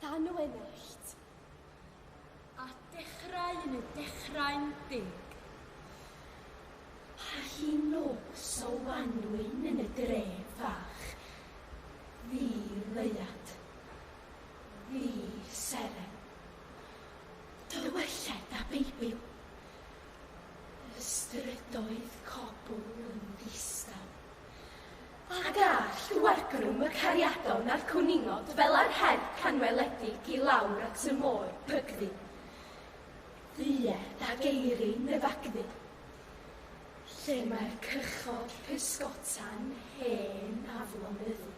Tan o enellt. A dechrau yn y dechrau'n deg. A hi'n nos o wanwyn yn y dref fach. Fi leuad. Fi seren. Tywylliaid a beibil. Y strydoedd cobl yn ddistaw. A gall y wargrwm y cariadon na'r cwningod fel a'r her canweledig i lawr at y môr bygddu. Dduie da geiri nyfagddu. Lle mae'r cychod pysgota'n hen aflonyddu.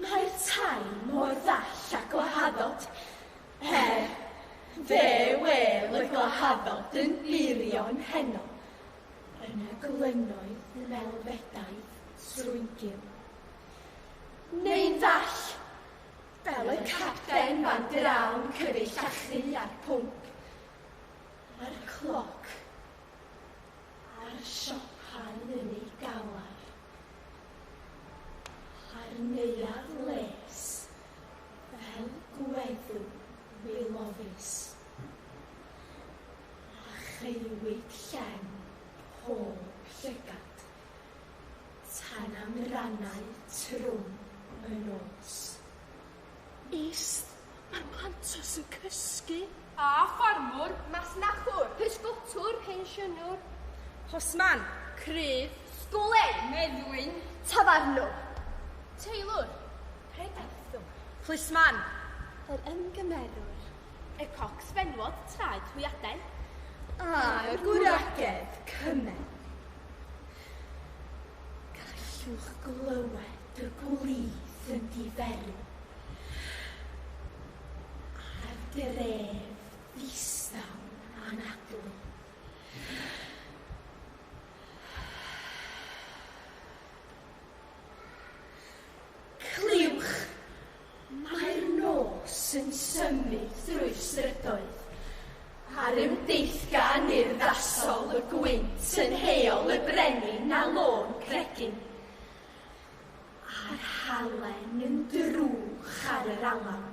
Mae'r tai mor ddall a gwahaddod. Er, fe wêl y gwahaddod yn burion heno, Yna glynoedd y melfedau strwygiw. Neu'n ddall, fel y capten fan drawn cyfeill a chri a'r pwnc, a'r cloc, a'r siopau yn ei galar, a'r neuadd les fel gweddu wyloddus. a cheuwyd llen pob llygad, tan am rannau trwm y nos. Ist, mae'r pantos yn cysgu. A ffarmwr, masnachwr, pysgotwr, pensiynwr. Postman, crydd. Sgolen, meddwyn. Tafarnwr. Teilwr, pregethiwr. Plisman, yr ymgymerwr. Y cocs fenywod traed hwyadau. A'r gwragedd cymen. Gallwch glywed y gwlith yn diferu a'r dref ddistaw anadlu. Mae'r nos yn symud drwy'r strydoedd, a'r ymdeithgar yn urddasol y gwynt yn heol y brenin a lôn cregyn, a'r halen yn drwch ar yr alaw.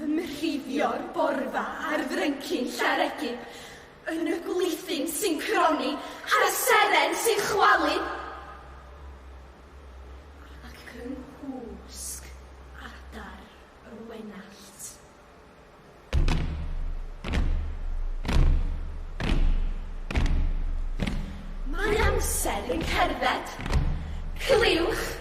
Ymrhifio'r borfa ar fryncyn Llareggub, yn y gwlithyn sy'n cronni ar y seren sy'n chwalu ac yng nghwsg adar y wenallt. Mae amser yn cerdded. Cliwch!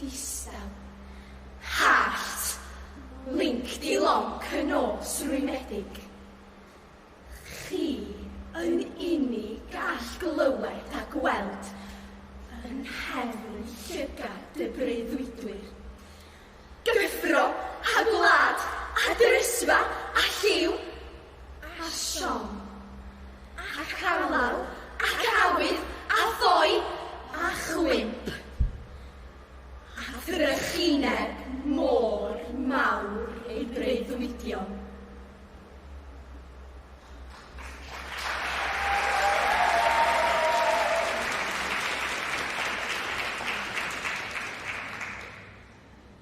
Distaw. Hallt! Link di lonc y nos rwymedig. Chi yn uni gall glywed a gweld yn nghefn llygad dy breuddwydwyr. Gyffro, a gwlad, a drysfa, a lliw! a siom, ac alaw, ac awydd, a ddoi, a chwymp, a thrychineb mor mawr ei breuddwydion.